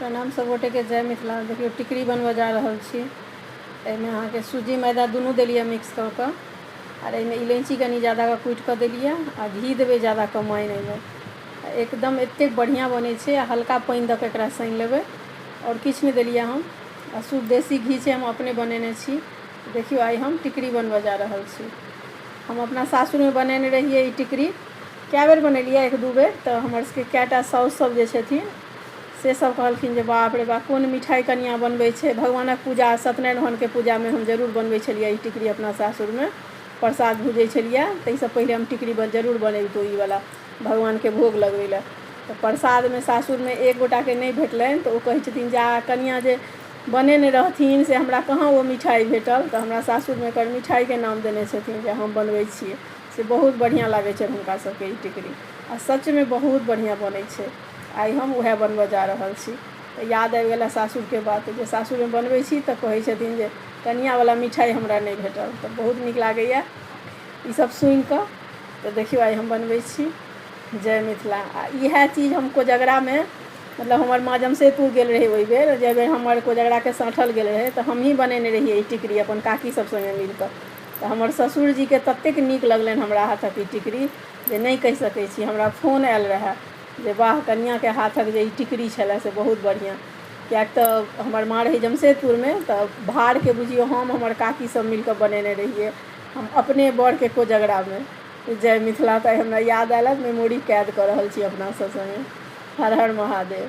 प्रणाम सब गोटे के जय मिथिला देखियो टिकरी बनबऽ जा रहल छी एहिमे अहाँके सूजी मैदा दुनू देलियै मिक्स कऽ कऽ आर एहिमे इलायची कनि ज्यादा कऽ कुटि कऽ देलियै आ घी देबै ज्यादा कऽ माइन एहिमे एकदम एतेक बढ़िआँ बनै छै आ हल्का पानि दऽ कऽ एकरा सानि लेबै आओर किछु नहि देलियै हम आ शुद्ध देसी घी छै हम अपने बनेने छी देखियौ आइ हम टिकरी बनबऽ जा रहल छी हम अपना सासुरमे बनेने रहियै ई टिकरी कए बेर बनेलियै एक दू बेर तऽ हमर सबके कएटा साउस सब जे छथिन से सभ कहलखिन जे बाप रे बाप कोन मिठाइ कनियाँ बनबै छै भगवानक पूजा सत्यनारायण भगवानके पूजामे हम जरूर बनबै छलियै ई टिकड़ी अपना सासुरमे प्रसाद भुजै छलियै ताहिसँ पहिले हम टिकड़ी बन जरूर बनैबतहुँ ई वाला भगवानके भोग लगबै लए तऽ प्रसादमे सासुरमे एक गोटाके नहि भेटलनि तऽ ओ कहै छथिन जा कनियाँ जे बनेने रहथिन से हमरा कहाँ ओ मिठाइ भेटल तऽ हमरा सासुरमे एकर मिठाइके नाम देने छथिन जे हम बनबै छियै से बहुत बढ़िऑं लागै छै हुनका सबके ई टिकरी आ सचमे बहुत बढ़िऑं बनै छै आइ हम वएह बनबऽ जा रहल छी तऽ याद आबि गेल सासुरके बात जे सासुरमे बनबै छी तऽ कहै छथिन जे कनियाँ बला मिठाइ हमरा नहि भेटल तऽ बहुत नीक लागैया ई सब सुनि कऽ तऽ देखियौ आइ हम बनबै छी जय मिथिला आ इएह चीज हम कोजगरामे मतलब हमर माँ जमशेदपुर गेल रहै ओहि बेर जाहि बेर हमर कोजगराके साँठल गेल रहै तऽ हमही बनेने रहियै ई टिकरी अपन काकी सब सङ्गे मिल कऽ तऽ हमर ससुरजीके ततेक नीक लगलनि हमरा हाथक ई टिकड़ी जे नहि कहि सकै छी हमरा फोन आयल रहए जे वाह कनियाँके हाथक जे ई टिकड़ी छलए से बहुत बढ़िआँ किएक तऽ हमर माँ रहै जमशेदपुरमे तऽ भारके बुझियौ हम हमर काकी सभ मिलि कऽ बनेने रहियै हम अपने बड़के कोजगरामे जय मिथिला तऽ आइ हमरा याद आयल हँ मेमोरी कैद कऽ रहल छी अपना सभ सङ्गे हर हर महादेव